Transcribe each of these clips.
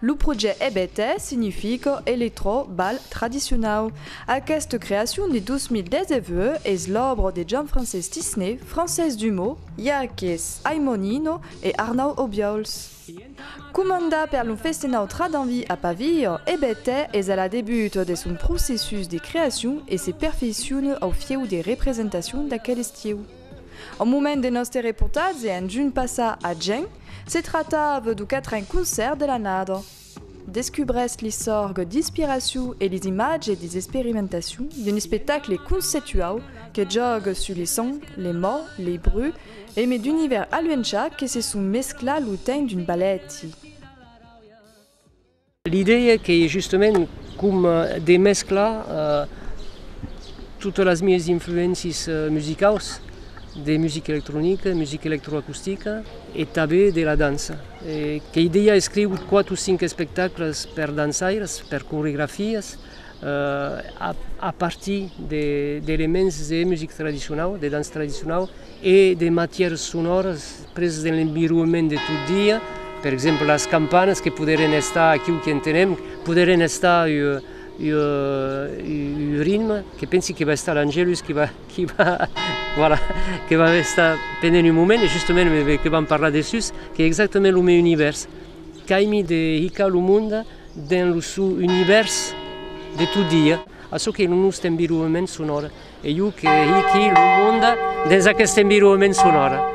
Lo projèct EBT significa Eletrò Bal Tradicionau. Aquesta creacion de 2019 es l'òbra de Jean-Francés Tisné, Francés Dumaux, Yaques Aimonino e Arnau Obiols. Comanda per lo Festenau Tradanvi a Pavio, e Betè es a la debut de son processus de creacion e se perfeiciona au fieu de representacion d'aquel estieu. Au moment de nòste reportatge en junh passat a Geng, se tractava du quatren concèrt de l'annada. Descubrèsc li sorg d'inspiracion e lis imatges lis esperimentacion d'un espectacle conceptuau que jògue sus li sons, li mòts, li bruits e me d'univèrs aluencha que se son mescla lo temps d'un balèti. L'idèa qu'ei justament com de mesclar totes las mièis influéncies musicaus de musica electronica, musica electroacustica e tanben de la dança. Qu'ei dejà escrigut quat o cinc espectacles per dançaires, per coregrafias, a partir d'elements de music tradicionau, de danç tradicionau e de matières sonores preses de l'environement de tot dia, per exemple las campanas que poderen estar, aquiu que entenem, poderen estar ua ritme, que pensi que va estar l'Angelus qui va que va voilà que va estar pendent un moment e justament que vam parlar de sus que exactament lo meu univèrs qu'aimi de hicar lo monde dins lo sou univèrs de tot dia a çò que lo nòste environnement sonora e jo que hiqui lo monde dins aquest environnement sonora.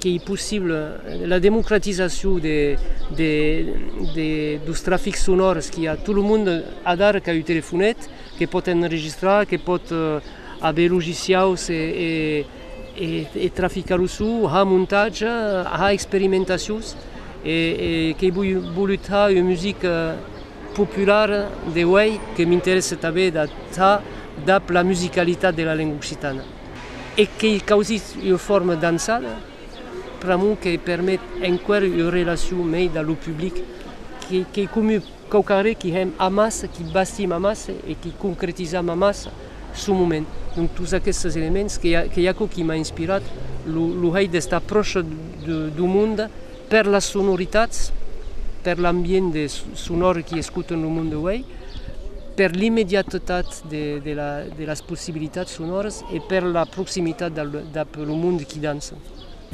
qu'ei possible la democratizacion deus trafics sonors qu'i a, tot lo monde adara qu'a un telefonet, que pòt enregistrar, que pòt aver logiciaus e traficar lo son, ha montatge, ha experimentacions, e qu'ei volut ha una musica populara de uèi, que m'interèsse tanben d'ath dab la musicalitat de la lenga occitana. e qu'ei causís ua forma d'ançada pr'amor que permet enqüèr ua relacion meida lo public qu'ei comu quauquarre qui hèm amassa, qui bastim amassa e qui concretizam amassa son moment. Donc tots aquestes elements qu'ei aquò qui m'a inspirat lo hèit d'estar pròcha dau monde, Per las sonoritats, per l'ambiente sonòr qui escutam lo monde uèi, per l'immediatetat de las possibilitats sonòras e per la proximitat dab lo monde qui dança.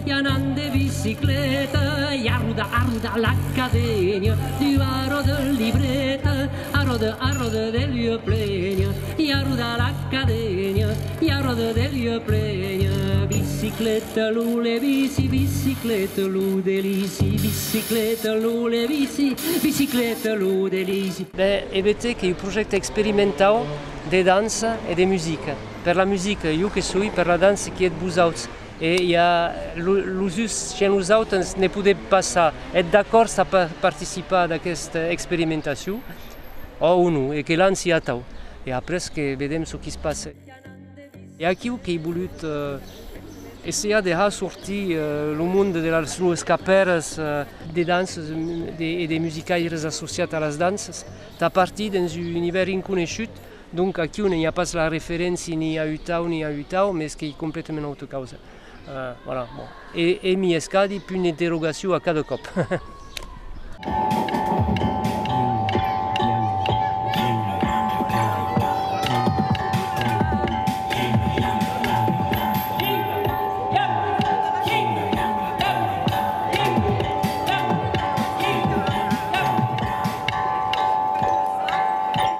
I anam de bicicleta i a rodar, a rodar l'academia, diu Arò de libreta, Arò de, Arò de, de lieu plena. I a roda la cadenia, i a roda de Dieu prenia, bicicleta lo le bici, bicicleta lo delici, bicicleta lo le bici, bicicleta lo delici. Ben, EBT qu'ei un projècte experimentau de dança e de musica. Per la musica, jo que soi, per la dança, qui êtes vos auts? E i a los uns, chez los autres, ne podèm pas ça. Êtes d'acòrds a participar d'aquesta experimentacion? Ò o non, e que lanci atau, e après que vedem çò qui's passe. E aquiu qu'ei bolut essejar de har sortir lo monde de las lues capèras, de dances e de musicaires associats a las dances, tà partir dens un univèrs inconeishut, donc aquiu non i a pas la referéncia ni a utau ni a utau, mes qu'ei completament auta causa. E èmi escadi punt d'interrogacion a cada còp.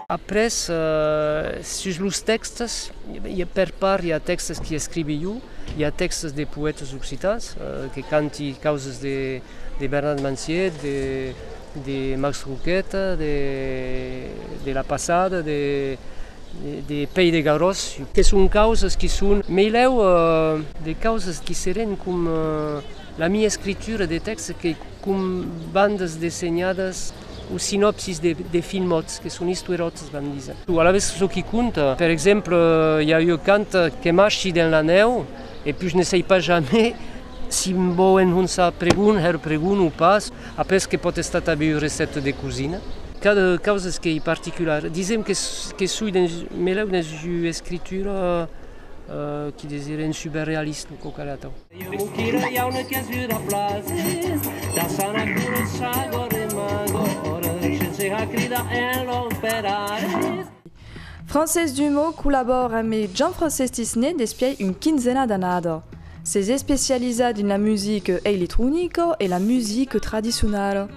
Après, sus los tèxtes. Per part i a tèxtes qui escrivi jo, i a tèxtes de poètes occitans que canti causes de Bernat Manciet, de Max Roquette, de la passada, de Pei de Garòs, que son causes qui son melèu de causes qui serén com la mia escritura de tèxtes que com bandas dessenhadas o sinopsis de filmots que son istueròts. Alavetz çò qui compta, per exemple, i a ua cant que marchi dens la nèu e pus ne sai pas jamai si me vò enhonçar pregon, hèr pregon o pas, après que pòt estar tanben ua recèpta de cosina. Qu'a de causas que i particular. Disèm que soi dens, melèu dens ua escritura qui desire un suberrealisme o quauquarre atau. Francés Dumaux collabòre amb Jean-Francés Tisné despièi un quinzena d'annada. S'es especializat dins la musica eiletronica e la musica tradicionala.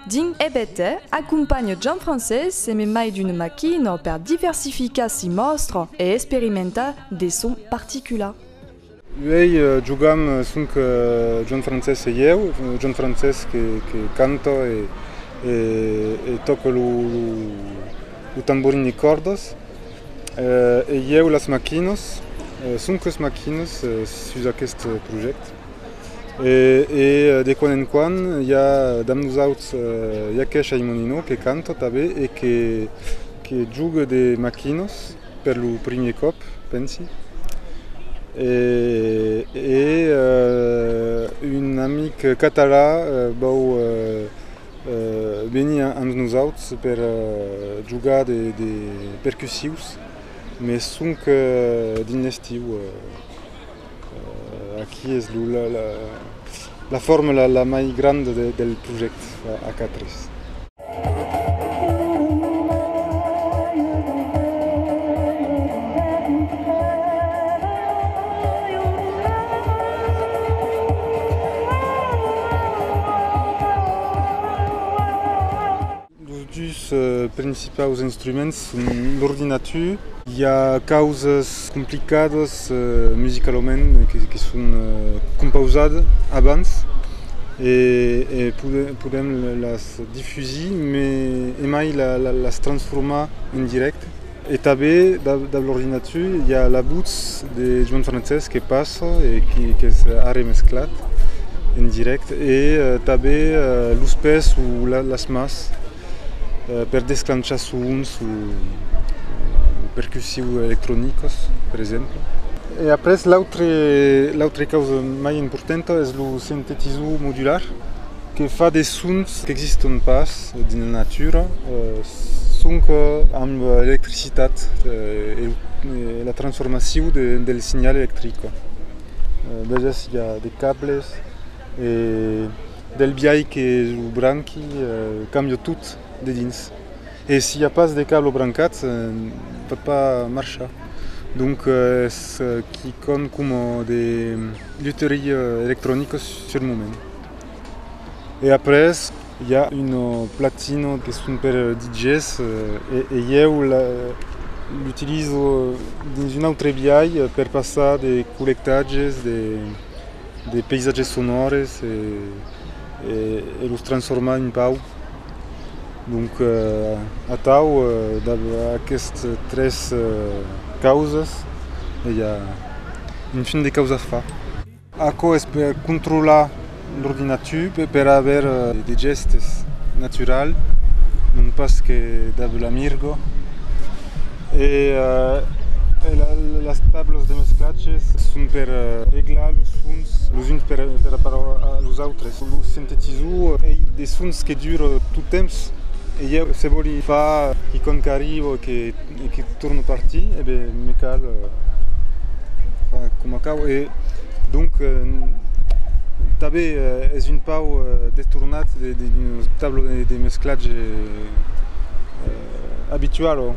Dins EBT, acompanha Jean-Francés e me mai d'una maquina per diversificar si mòstra e experimentar de sons particulars. Uèi jogam sonc John Francesc e ieu, John Francesc que que canta e e tòca lo lo tamborin de còrdas e ieu las machinas, sonc las machinas sus aqueste projèct e e de quan en quan i a damb nosauts Yakesh Aymonino que canta tanben e que que joga de machinas. per lo primier còp, pensi, e un amic catalan vòu venir amb nosauts per jogar de percussius, mes sonque dins l'estiu. Aquí es la formula la mai granda del projècte a quatre. Los dus principaus instruments son l'ordinatur. I a causas complicadas musicalament que son compausadas abans e podèm las difusir, mai emai las transformar en dirècte. E tanben dab l'ordinatur i a la votz de Joan Francés que passa e qu'es arremesclat en dirècte e tanben los pès o las mas per desclanchar sons o percussius electronicos per exemple. E après l'autre causa mai importanta es lo sintetizor modular. que fa de sons qu'existon pas dins la natura sonque amb l'electricitat e la transformacion del signal electric veges i a de cables e del biais que lo branqui cambia tot de dins e si i a pas de cable brancat pòt pas marchar donc es quicòm coma de luterie electronica sul moment. e après i a un platino que son per DJs e ieu l'utilizo dins un autre biais per passar de collectatges de paisatges sonores e los transformar un pauc donc atau dab aquestes tres causas i a un fin de causa fa. Aquò es per controlar l'ordinatiu e per aver de gèstes naturals, non pas que dab l'amirgo. E las tablas de mesclatges son per reglar los sons los uns per aparò a los autres. Lo sintetizor ei de sons que dura tot temps e ieu se vòli far quicòm qu'arriba o que E que torno partir, e ben me cal far coma cau e donc tanben es un pauc destornat d'un tablo de mesclatge abitual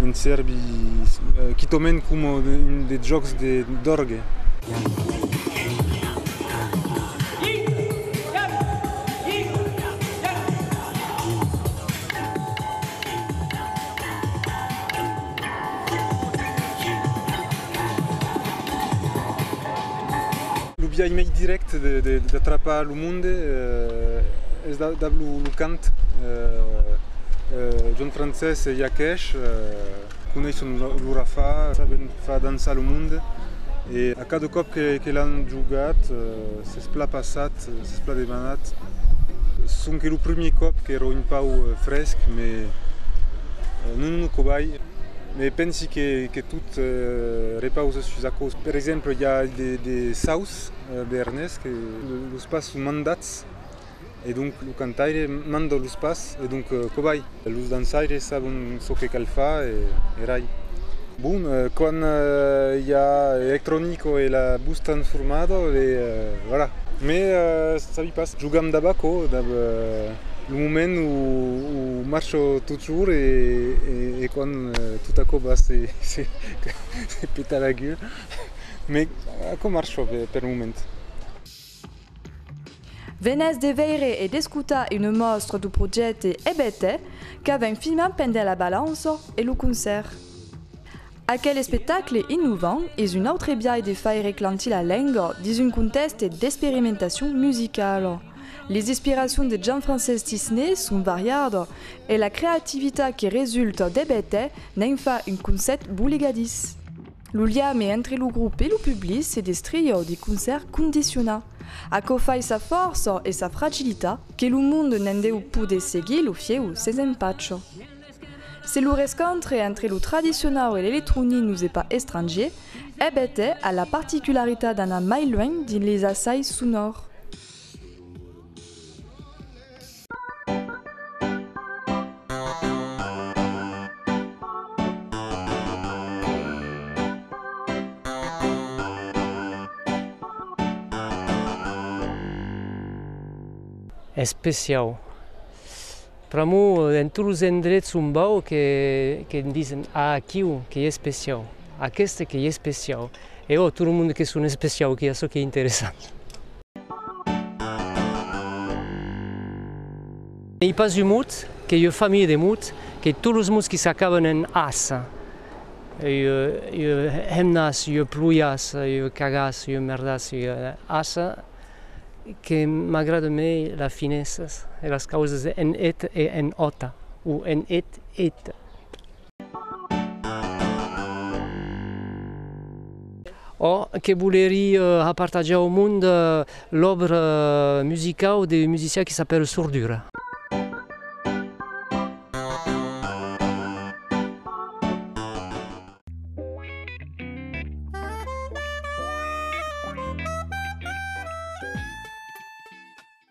en sèrbi, quitament coma un de jòcs d'òrgue. Lo biais mai dirècte d'atrapar lo monde es dab lo cant. John Frances Yakesh. Coneisson lo rafà, saben far dançar lo monde e a cada còp que l'an jogat s'es plan passat, s'es plan demanat sonque lo primièr còp qu'èra un pauc fresc me non un cobai me pensi que tot repausa sus aquò. Per exemple i a de saus bernés que los pas son mandats E donc lo cantaire manda los pas e donc cobai? Los dançaires sabon çò que cal far e rai. Bon, quand i a electronico e la bus transformada e voilà. Me sabi pas, jogam dab aquò, dab lo moment o marcha totjorn e quand tot a còp se peta la gueulha. Me aquò marcha per lo moment. Venètz de veire e d'escotar una mòstra du projècte Ebète qu'avèm filmat pendent la balança e lo concèrt. Aquel espectacle innovant es un autre biais de faire eclantir la lenga dins un contèxte d'experimentacion musicala. Las inspiracions de Jean-Francesc Tisné son variadas e la creativitat que resulta d'Ebète n'en fa un concèpt boligadís. Lo liame entre lo grop e lo public se destria o de concèrt condiciona. Aquò fai sa fòrça e sa fragilita que lo monde ne'n deu poder seguir lo fieu sens empacho. Se lo rescontre entre lo tradicionau e l'electronic nos es pas estrangier, ebet hè a la particularitat d'anar mai luènh dins les assais sonors. Especiau. Pr'amor en tots los endrets on vau que que me disen ah aquiu qu'ei especiau, aqueste qu'ei especiau e oh tot lo monde que son especiau, qu'i a çò qu'ei interessant. N'ei pas un mot, qu'ei ua familha de mot, qu'ei tots los mots qui s'acaban en as, ua hemnas, ua pluias, ua cagas, ua merdas, ua as, que m'agrada mei las finesas e las causas en et e en ot, o en et, ét. Ò que volerie apartajar au mond l'òbra musicau de musician qui s'apèle Sordura.